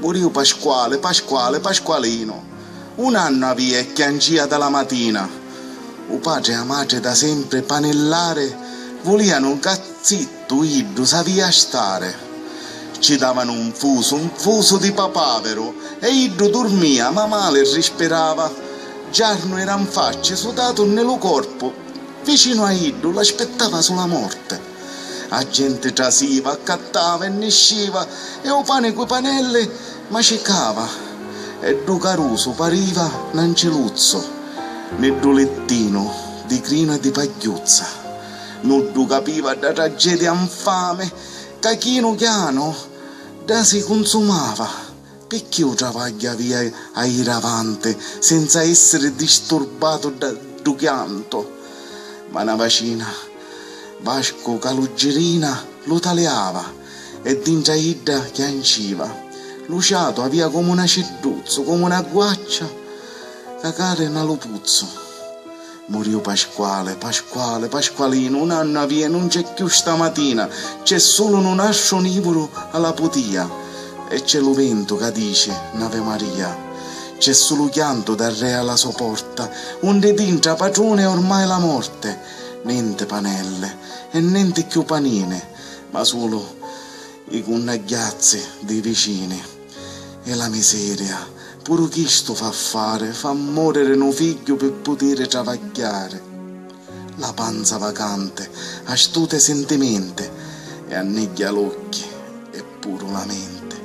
Muriu Pasquali, Pasquali, Pasqualinu. Un annu avia e chiancia da la matina. U patri e a matri da sempri panillari vulianu ca zittu iddu s'avia a stari. Ci davanu 'nfusu, 'nfusu di papaviru e iddu durmia ma mali rispirava. Giarnu era 'nfacci sudatu nni lu corpu. Vicinu a iddu l'aspittava sula morti. A genti trasiva, accattava e nisciva, e 'u pani cu 'i panelli macicava, e ddu carusu pariva 'n anciluzzu, ni ddu littinu di crina di pagghiuzza. Nuddu capiva dda tragedia nfami, ca chianu chianu dda si cunsumava. Picchì u travagghiu avìa a iri avanti senza essiri disturbatu dda ddu chiantu. Ma na vacina, Vascu Caluggirina, lu taliava e dintra a idda chianciva. Lu ciatu avìa comu n'acidduzzu, comu na guaccia ca cari na lu puzzu. Muriu Pasquale, Pasquale, Pasqualinu, un annu avia e nun c'è cchiù stamatina, c'è sulu nu nastru nivuru a la putia e c'è lu ventu ca dici n'Ave Maria. C'è sulu chiantu darrè a la so porta, undi dintra a patruna è ormai la morte. Nenti panelle e nenti cchiù panini, ma sulu i cunnagghiazzi dî vicini. E la miseria, puru chistu fa fari, fa mòriri nu figghiu pi putiri travagghiari. La panza vacanti astuta i sintimenti e annigghia l'occhi e puru la menti.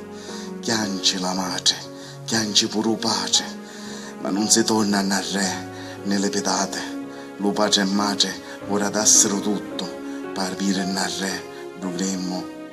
Chianci la matri, chianci puru u patri, ma nun si torna a na re ni li pitati, lu patri e matri ora dassiru tuttu p'aviri na re, duvremmu.